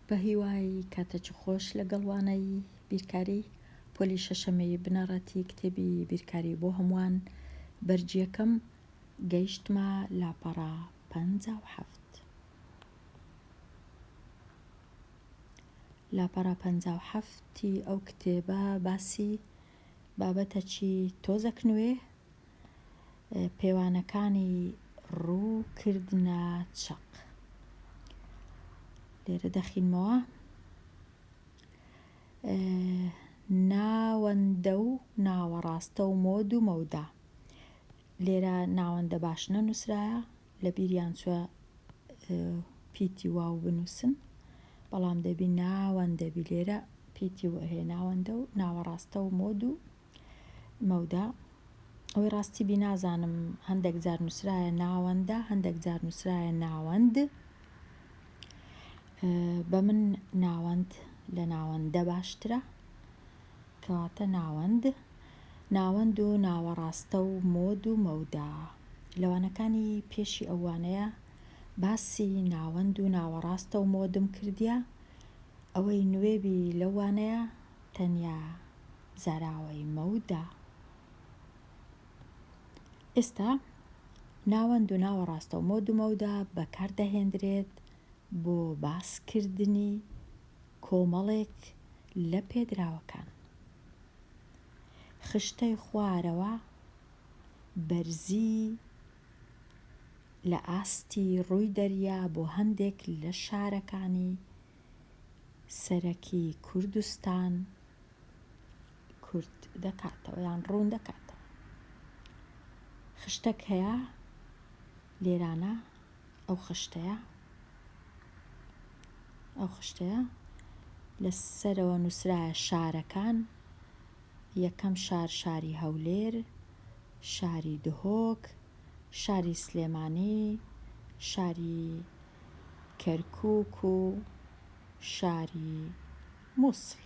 بەهیوای کاتەچی خۆش لەگەڵ وانەی بیرکاری پۆلی شەشەمی بنەڕەتی کتێبی بیرکاری بۆ هەمووان بەرجیەکەم گەیشتمە لاپەڕە پەنجا و حەفت لاپەڕە پەنجا و حەفتی ئەو کتێبە باسی بابەتەچی تۆزەک نوێ پێوانەکانی ڕوو کردنە چەق لێرە دەخینمەوە ناوەندە و ناوەڕاستە و مۆد و مەودا لێرە ناوەندە باش نەنووسرایە لە بیریان چوە پیتی واو بنووسن بەڵام دەبی ناوەندەبی لێرە پیتی وهێناوەندە و ناوەڕاستە و مۆد و مەودا، ئەوەی ڕاستی بی نازانم هەندێک جار نووسرایە ناوەندە هەندێک جار نووسرایە ناوەند بە من ناوەند لە ناوەندە باشترە کەواتە ناوەند ناوەند و ناوەڕاستە و مۆد و مەودا لەوانەکانی پێشی ئەوانەیە باسی ناوەند و ناوەڕاستە و مۆدم کردە ئەوەی نوێبی لەوانەیە تەنیا زاراوەی مەودا. ئێستا ناوەند و ناوە ڕاستەو مۆد و مەودا بەکار دەهێندرێت بۆ باسکردنی کۆمەڵێک لە پێدراوەکان. خشتەی خوارەوە بەرزی لە ئاستی ڕووی دەریا بۆ هەندێک لە شارەکانی سەرەکی کوردستان کورت دەکاتەوە یان ڕوون دەکاتەوە خشتەک هەیە لێرانە ئەو خشتەیە ئەو خشتەیە لە سەرەوە نووسراە شارەکان یەکەم شار شاری هەولێر شاری دهۆک شاری سلێمانی شاری کەرکوک و شاری موسڵ.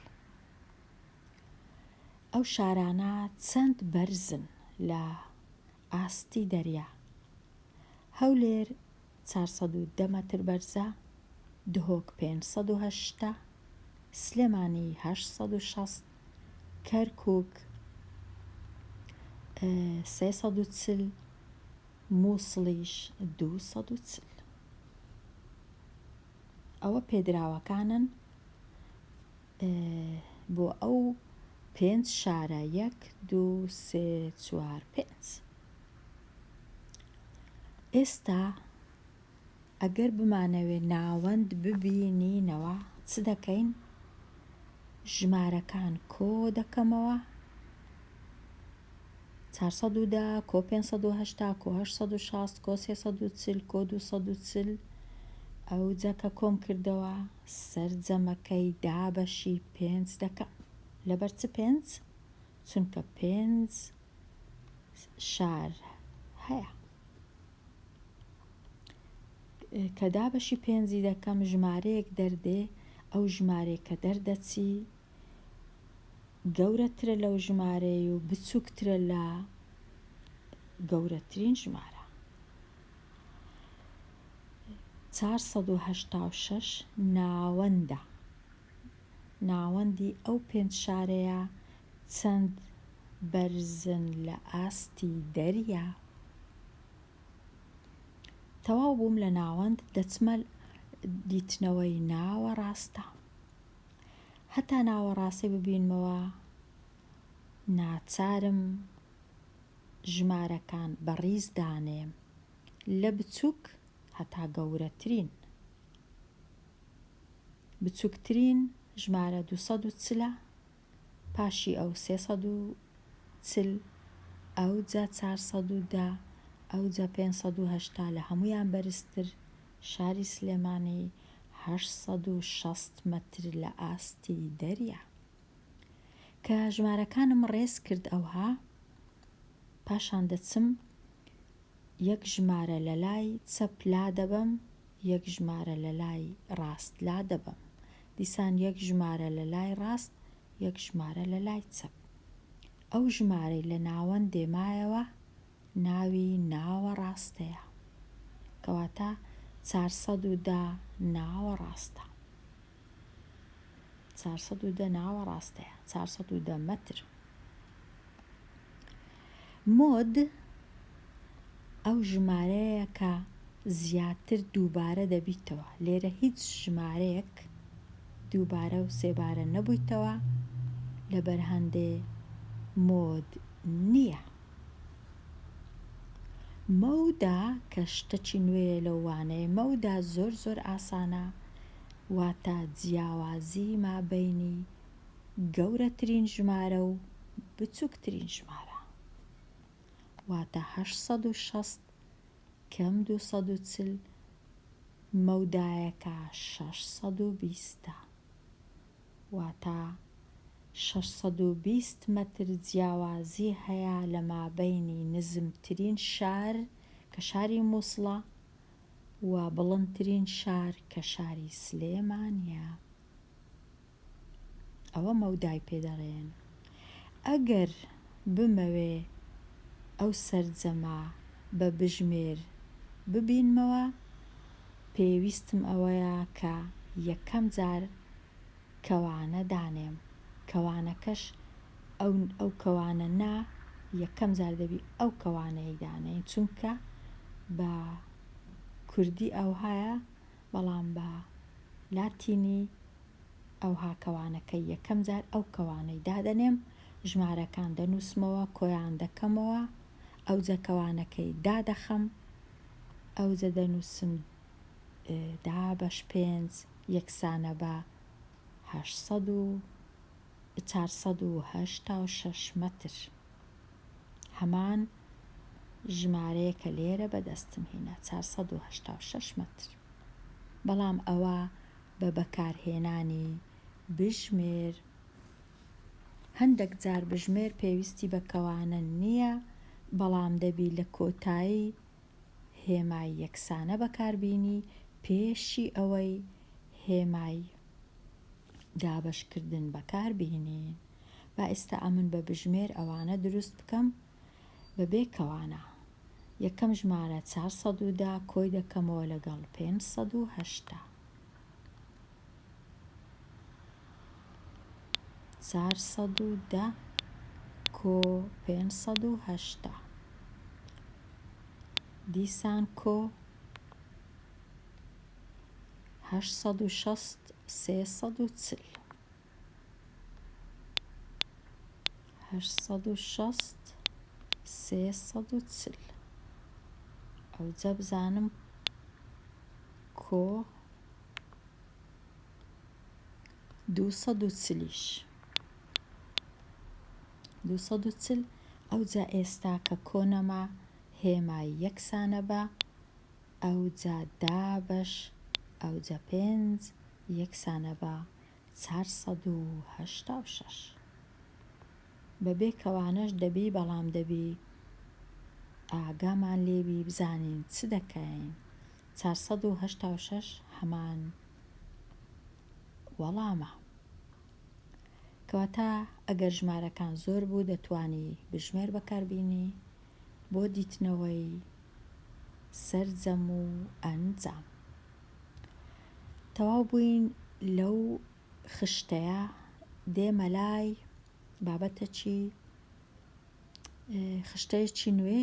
ئەو شارانە چەند بەرزن لە ئاستی دەریا؟ هەولێر چوار سەد و دە مەتر بەرزە، دهۆک پێنج سەد و هەشتا، سلێمانی هەشت سەد و شەست، کەرکوک سێ سەد و چل، موسڵیش دوو سەد و چل. ئەوە پێدراوەکانن بۆ ئەو پێنج شارە یەک دوو سێ چوار پێنج ئێستا ئەگەر بمانەوێ ناوەند ببینینەوە چ دەکەین؟ ژمارەکان کۆ دەکەمەوە، چوار سەد و دە کۆ پێنج سەد و هەشتا کۆ هەشت سەد و شەست کۆ سێ سەد و چل کۆ دوو سەد و چل ئەوجا کە کۆم کردەوە سەرجەمەکەی دابەشی پێنج دەکەم لەبەر چ پێنج؟ چونکە پێنج شار هەیە کە دابەشی پێنجی دەکەم ژمارەیەک دەردێ ئەو ژمارەیە کە دەردەچی گەورەترە لەو ژمارەی و بچووکترە لە گەورەترین ژمارە 486 ناوەندە ناوەندی ئەو پێنج شارەیە چەند بەرزن لە ئاستی دەریا؟ تەواو بووم لە ناوەند دەچمە دیتنەوەی ناوەڕاستە هەتا ناوەڕاستی ببینمەوە ناچارم ژمارەکان بەڕیز دانێم لە بچووک هەتا گەورەترین. بچوکترین ژمارە دوو سەد و چل ە، پاشی ئەو سێ سەد و چل، ئەوجە چار سەد و دە، ئەوجە پێنج سەد و هەشتا، لە هەموویان بەرزتر شاری سلێمانی هەشت سەد و شەست مەتر لە ئاستی دەریا. کە ژمارەکانم ڕێز کرد ئەوها پاشان دەچم یەک ژمارە لە لای چەپ لا دەبەم، یەک ژمارە لە لای ڕاست لا دەبەم. دیسان یەک ژمارە لە لای ڕاست، یەک ژمارە لە لای چەپ. ئەو ژمارەی لە ناوەندێ مایەوە ناوی ناوەڕاستەیە. کەواتە چار سەد و دە ناوەڕاستە. چار سەد و دە ناوە ڕاستەیە چار سەد و دە مەتر مۆد ئەو ژمارەیە کە زیاتر دووبارە دەبیتەوە لێرە هیچ ژمارەیەک دووبارە و سێبارە نەبوویتەوە لە بەرهەندێ مۆد نییە مەودا کە شتەکی نوێیە لەو وانەیە مەودا زۆر زۆر ئاسانە واتە جیاوازی مابەینی گەورەترین ژمارە و بچوکترین ژمارە واتە هەشت سەد و شەست کەم دوو سەد و چل مەودایەکە شەش سەد و بیستە واتە شەش سەد و بیست مەتر جیاوازی هەیە لە مابەینی نزمترین شار کە شاری موسڵە و بڵندترین شار کە شاری سلێمانیە ئەوە مەودای پێ دەڵێن ئەگەر بمەوێ ئەو سەرجەمە بە بژمێر ببینمەوە پێویستم ئەوەیە کە یەکەم جار کەوانە دانێم کەوانەکەش ئەو ئەو کەوانە نا یەکەم جار دەبی ئەو کەوانەی دانێی چونکە بە کوردی ئەوهایە بەڵام بە لاتینی ئەوها کەوانەکە یەکەم جار ئەو کەوانەی دادەنێم ژمارەکان دەنووسمەوە کۆیان دەکەمەوە ئەوجە کەوانەکەی دادەخەم ئەوجە دەنووسم دا بەش پێنج یەکسانە بە هەشت سەد و چار سەد و هەشتا و شەش مەتر هەمان ژمارەیە کە لێرە بەدەستم هینا چار سەد و هەشتا و شەش مەتر بەڵام ئەوە بە بەکارهێنانی بژمێر هەندێک جار بژمێر پێویستی بە کەوانە نییە بەڵام دەبی لە کۆتایی هێمای یەکسانە بەکاربینی پێشی ئەوەی هێمای دابەشکردن بەکاربهینین با ئێستا ئەمن بە بژمێر ئەوانە دروست بکەم بەبێ کەوانە یەکەم ژمارە چار سەد و دا کۆی دەکەمەوە لەگەڵ پێنج سەد و هەشتا چار سەد و دە کۆ پێنج سەد و هەشتا دیسان کۆ هەشت سەد و شەست سێ سەد و چل هەشت سەد و شەست سێ سەد و چل ئەوجە بزانم کۆ دوو سەد و چلیش دوو سەد و چل ئەوجا ئێستا کە کۆنەما هێما یەکسانە بە ئەوجا دابەش ئەوجا پێنج یەکسانە بە چار سەد و هەشتا و شەش بەبێ کەوانەش دەبی بەڵام دەبی ئاگامان لێبی بزانین چ دەکەین چار سەد و هەشتا و شەش هەمان وەڵامە. کەواتە ئەگەر ژمارەکان زۆر بوو دەتوانی بژمێر بەکاربینی بۆ دیتنەوەی سەرجەم و ئەنجام تەواو بووین لەو خشتەیە دێمە لای بابەتەکی خشتەیەکی نوێ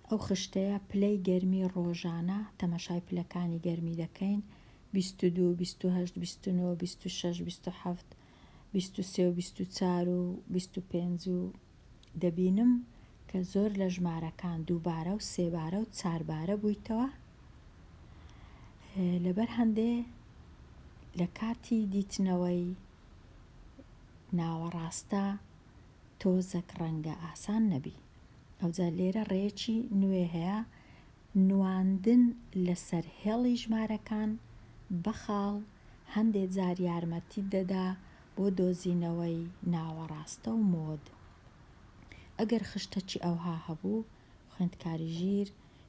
ئەو خشتەیە پلەی گەرمی ڕۆژانە تەمەشای پلەکانی گەرمی دەکەین بیست و دوو بیست و هەشت بیست و نۆ بیست و شەش بیست و حەفت بیست و سێ و بیست و چار و بیست و پێنج و دەبینم کە زۆر لە ژمارەکان دووبارە و سێبارە و چاربارە بوویتەوە لەبەر هەندێ لە کاتی دیتنەوەی ناوەڕاستە تۆزەک ڕەنگە ئاسان نەبی. ئەوجا لێرە ڕێیەکی نوێ هەیە، نواندن لەسەر هێڵی ژمارەکان بە خاڵ هەندێ جار یارمەتیت دەدا بۆ دۆزینەوەی ناوەڕاستە و مۆد. ئەگەر خشتەکی ئەوها هەبوو، خوێندکاری ژیر،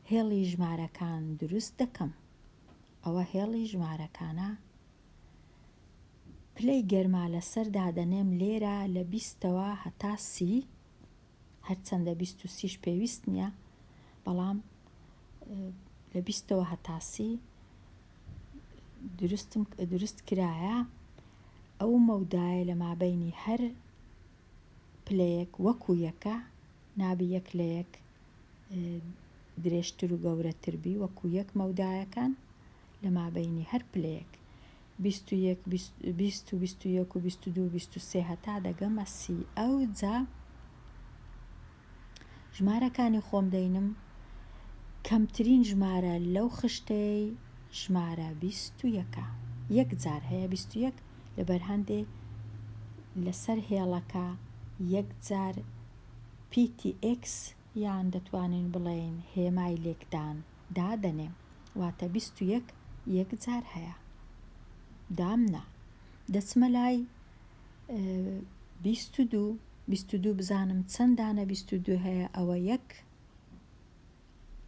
هێڵی ژمارەکان دروست دەکەم. ئەوە هێڵی ژمارەکانە پلەی گەرما لەسەر دادەنێم لێرە لە بیستەوە هەتا سی هەرچەندە بیست و سیش پێویست نییە بەڵام لە بیستەوە هەتا سی دروستم دروست کرایە ئەو مەودایە لە مابینی هەر پلەیەک وەکو یەکە نابی یەک لە یەک درێژتر و گەورەتر بی وەکو یەک مەودایەکان لە مابەینی هەر پلەیەک، بیست و یەک، بیست و بیست و یەک و بیست و دوو و بیست و سێ هەتا دەگەمە سی، ئەوجا ژمارەکانی خۆم دەینم، کەمترین ژمارە لەو خشتەی ژمارە بیست و یەکە، یەک جار هەیە بیست و یەک لەبەر هەندێ لەسەر هێڵەکە یەک جار پیتی ئێکس یان دەتوانین بڵێین هێمای لێکدان. دادەنێم واتە بیست و یەک یەک جار هەیە دامنا دەچمە لای بیست و دوو بیست و دوو بزانم چەند دانە بیست و دوو هەیە ئەوە یەک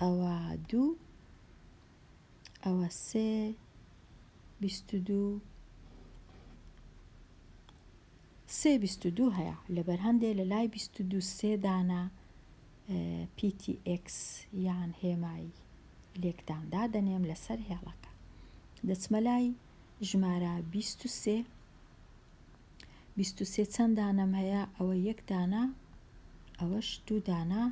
ئەوە دوو ئەوە سێ بیست و دوو سێ بیست و دوو هەیە لەبەر هەندێ لە لای بیست و دوو سێ دانە پیتی ئێکس یان هێمای لێکدان دادەنێم لەسەر هێڵەکە دەچمە لای ژمارە بیست و سێ بیست و سێ چەند دانەم هەیە ئەوە یەک دانە ئەوەش دوو دانە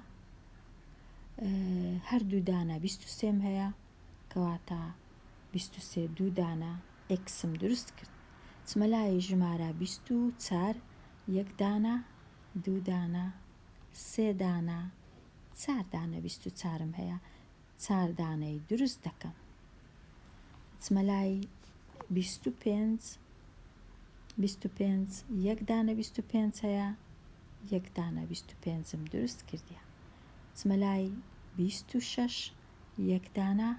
هەردوو دانە بیست و سێم هەیە کەواتە بیست و سێ دوو دانە ئێکسم دروست کرد چمە لای ژمارە بیست و چار یەک دانە دوو دانە سێ دانە چار دانە بیست و چارم هەیە چار دانەی دروست دەکەم ئەچمە لای بیست و پێنج بیست و پێنج یەک دانە بیست و پێنج هەیە یەک دانە بیست و پێنجم دروست کردیە ئەچمە لای بیست و شەش یەک دانە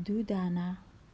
دوو دانە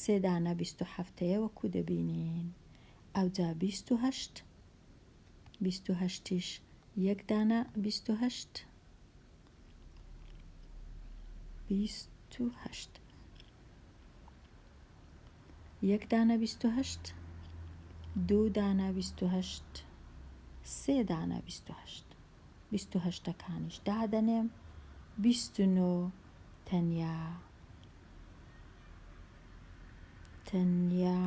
سێ دانە بیست و حەفتەیە وەکو دەبینین ئەوجا بیست و هەشت بیست و هەشتیش یەک دانە بیست و هەشت بیست و هەشت یەک دانە بیست و هەشت دوو دانە بیست و هەشت سێ دانە بیست و هەشت بیست و هەشتەکانیش دادەنێم بیست و نۆ تەنیا تەنیا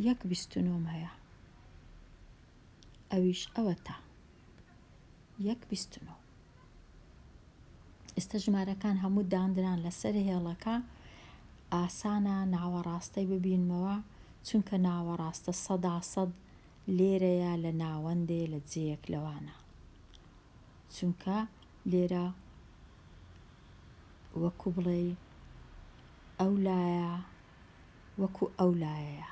یەک بیست و نۆم هەیە ئەویش ئەوەتە یەک بیست و نۆ ئێستا ژمارەکان هەموو داندران لەسەر هێڵەکە ئاسانە ناوەڕاستەی ببینمەوە چونکە ناوەڕاستە سەدا سەد لێرەیە لە ناوەندێ لە جێیەک لەوانە چونکە لێرە وەکو بڵێی ئەو لایە وەکو ئەو لایەیە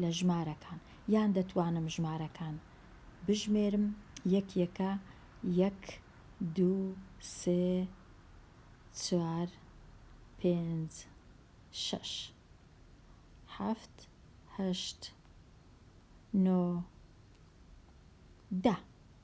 لە ژمارەکان یان دەتوانم ژمارەکان بژمێرم یەک یەکە یەک دوو سێ چوار پێنج شەش حەفت هەشت نۆ دە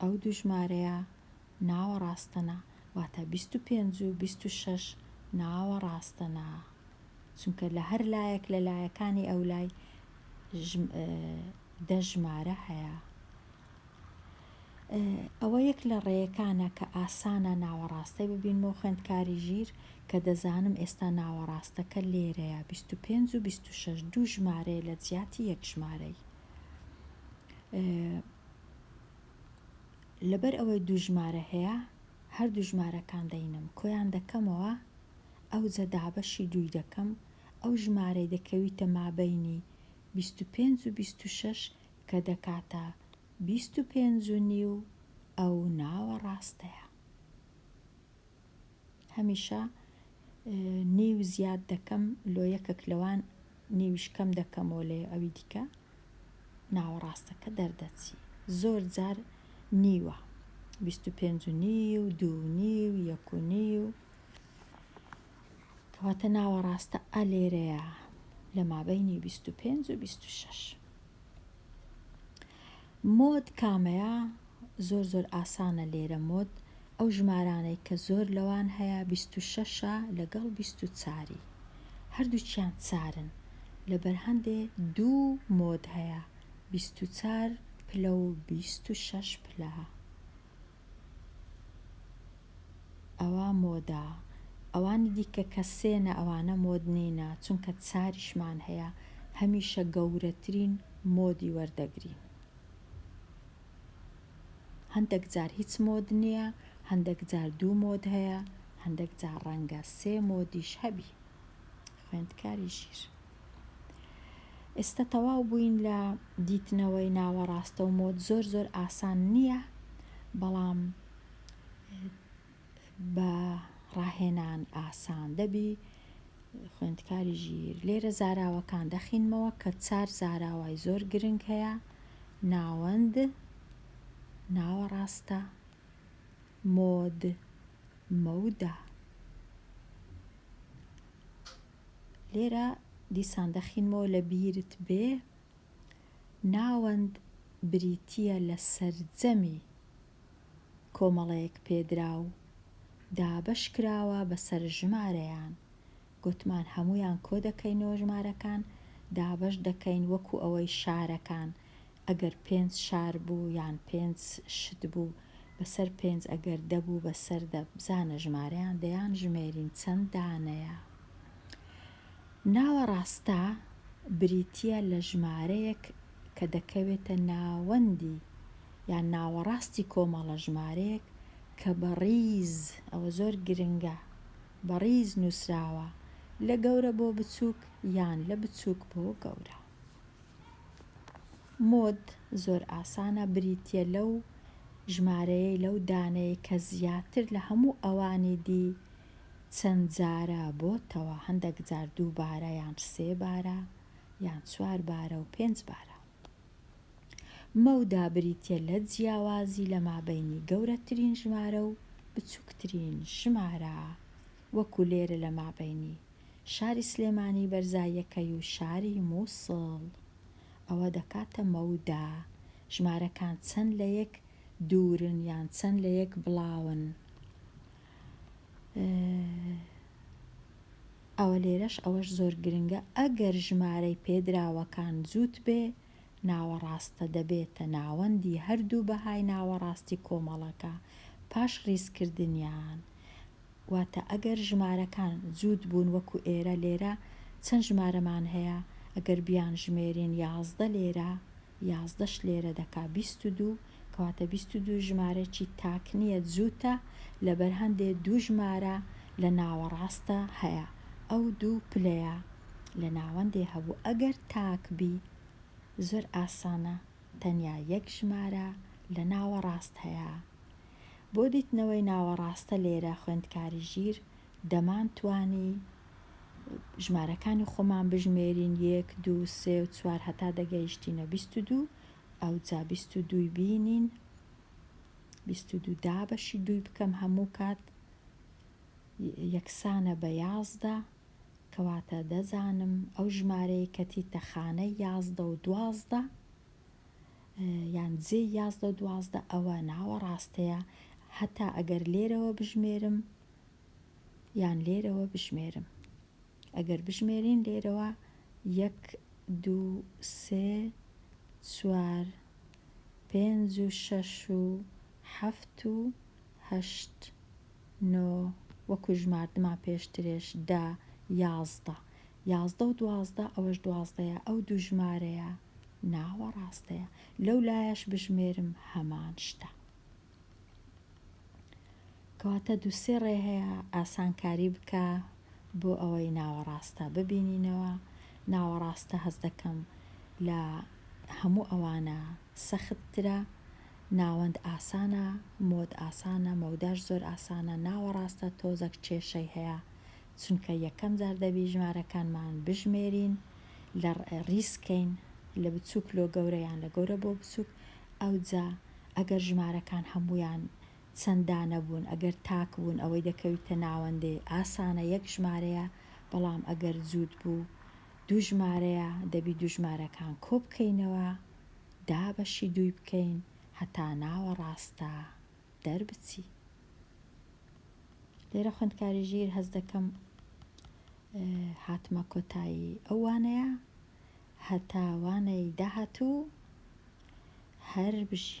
ئەو دوو ژمارەیە ناوەڕاستەنە، واتە بیست و پێنج و بیست و شەش ناوەڕاستەنە، چونکە لە هەر لایەک لە لایەکانی ئەو لای دە ژمارە هەیە. ئەوە یەک لە ڕێیەکانە کە ئاسانە ناوەڕاستەی ببینمەوە خوێندکاری ژیر کە دەزانم ئێستا ناوەڕاستەکە لێرەیە بیست و پێنج و بیست و شەش دوو ژمارەیە لە جیاتی یەک ژمارەی. لەبەر ئەوەی دوو ژمارە هەیە هەردوو ژمارەکان دەینم کۆیان دەکەمەوە ئەوجە دابەشی دووی دەکەم ئەو ژمارەی دەکەویتە مابەینی بیست و پێنج و بیست و شەش کە دەکاتە بیست و پێنج و نیو ئەو ناوەڕاستەیە. هەمیشە نیو زیاد دەکەم لۆ یەکەک لەوان نیویش کەم دەکەمەوە لە ئەوی دیکە ناوەڕاستەکە دەردەچی زۆر جار نیوە بیست و پێنج و نیو دوو نیو یەک و نیو کەواتە ناوەڕاستە ئەلێرەیە لە مابینی بیست و پێنج و بیست و شەش مۆد کامەیە زۆر زۆر ئاسانە لێرە مۆد ئەو ژمارانەی کە زۆر لەوان هەیە بیست و شەشە لەگەڵ بیست و چاری هەردووچیان چارن لەبەر هەندێ دوو مۆد هەیە بیست و چار پلە و بیست و شەش پلە. ئەوە مۆدە ئەوانی دیکە کە سێنە ئەوانە مۆد نینە چونکە چاریشمان هەیە هەمیشە گەورەترین مۆدی وەردەگرین هەندەک جار هیچ مۆد نییە هەندەک جار دوو مۆد هەیە هەندەک جار ڕەنگە سێ مۆدیش هەبی خوێندکاری ژیر ئێستا تەواو بووین لە دیتنەوەی ناوەڕاستە و مۆد زۆر زۆر ئاسان نییە بەڵام بە ڕاهێنان ئاسان دەبی خوێندکاری ژیر لێرە زاراوەکان دەخینمەوە کە چار زاراوای زۆر گرنگ هەیە ناوەند ناوەڕاستە مۆد مەودا لێرە دیسان دەخینمەوە لە بیرت بێ ناوەند بریتییە لە سەرجەمی کۆمەڵەیەک پێدراو دابەش کراوە بەسەر ژمارەیان گۆتمان هەموویان کۆدەکەینەوە ژمارەکان دابەش دەکەین وەکو ئەوەی شارەکان ئەگەر پێنج شار بوو یان پێنج شت بوو بەسەر پێنج ئەگەر دە بوو بەسەر دە بزانە ژمارەیان دەیان ژمێرین چەند دانەیە ناوە ڕاستە بریتیە لە ژمارەیەک کە دەکەوێتە ناوەندی یان ناوەڕاستی کۆمەڵە ژمارەیەک کە بە ڕیز ئەوە زۆر گرنگە بە ڕیز نووسراوە لە گەورە بۆ بچووک یان لە بچووک بۆ گەورە مۆد زۆر ئاسانە بریتیە لەو ژمارەیەی لەو دانەی کە زیاتر لە هەموو ئەوانی دی چەند جارە بۆتەوە هەندەک جار دوو بارە یان سێ بارە یان چوار بارە و پێنج بارە مەودا بریتە لە جیاوازی لە مابینی گەورەترین ژمارە و بچووکترین ژمارە وەکو لێرە لە مابینی شاری سلێمانی بەرزاییەکەی و شاری مووسڵ ئەوە دەکاتە مەودا، ژمارەکان چەند لە یەک دوورن یان چەند لە یەک بڵاون، ئەوە لێرەش ئەوەش زۆر گرنگە ئەگەر ژمارەی پێدراوەکان جووت بێ ناوەڕاستە دەبێتە ناوەندی هەردوو بەهای ناوەڕاستی کۆمەڵەکە پاش ڕیزکردنیان، واتە ئەگەر ژمارەکان جووت بوون وەکو ئێرە لێرە چەند ژمارەمان هەیە ئەگەر بیانژمێرین یازدە لێرە یازدەش لێرە دەکا بیست و دوو کەواتە بیست و دوو ژمارەێکی تاک نییە جووتە لەبەر هەندێ دوو ژمارە لە ناوەڕاستە هەیە ئەو دوو پلەیە لە ناوەندێ هەبوو ئەگەر تاک بی زۆر ئاسانە تەنیا یەک ژمارە لە ناوەڕاست هەیە بۆ دیتنەوەی ناوەڕاستە لێرە خوێندکاری ژیر دەمان توانی ژمارەکانی خۆمان بژمێرین یەک دوو سێ و چوار هەتا دەگەیشتینە بیست و دوو ئەوجا بیست و دووی بینین بیست و دوو دابەشی دووی بکەم هەموو کات یەکسانە بە یازدە کەواتە دەزانم ئەو ژمارەیە کە تیتە خانەی یازدە و دوازدە یان جێی یازدە و دوازدە ئەوە ناوەڕاستەیە هەتا ئەگەر لێرەوە بژمێرم یان لێرەوە بژمێرم ئەگەر بژمێرین لێرەوە یەک دوو سێ چوار پێنج و شەش و حەفت و هەشت نۆ وەکو ژماردمان پێشترێش دا یازدە یازدە و دوازدە ئەوەش دوازدەیە ئەو دوو ژمارەیە ناوەڕاستەیە لەو لایەش بژمێرم هەمان شتە کەواتە دوو سێ ڕێ هەیە ئاسانکاری بکە بۆ ئەوەی ناوەڕاستە ببینینەوە ناوەڕاستە هەز دەکەم لە هەموو ئەوانە سەختترە ناوەند ئاسانە مۆد ئاسانە مەوداش زۆر ئاسانە ناوەڕاستە تۆزەک کێشەی هەیە چونکە یەکەم جار دەبی ژمارەکانمان بژمێرین لە ڕیزکەین لە بچووک لۆ گەورە یان لە گەورە بۆ بچووک ئەوجا ئەگەر ژمارەکان هەموویان چەند دانە بوون ئەگەر تاک بوون ئەوەی دەکەویتە ناوەندێ ئاسانە یەک ژمارەیە بەڵام ئەگەر جووت بوو دوو ژمارەیە دەبی دوو ژمارەکان کۆبکەینەوە دابەشی دووی بکەین هەتا ناوەڕاستە دەربچی. لێرە خوێندکاری ژیر هەز دەکەم هاتمە کۆتایی ئەو وانەیە هەتا وانەی داهاتوو هەر بژی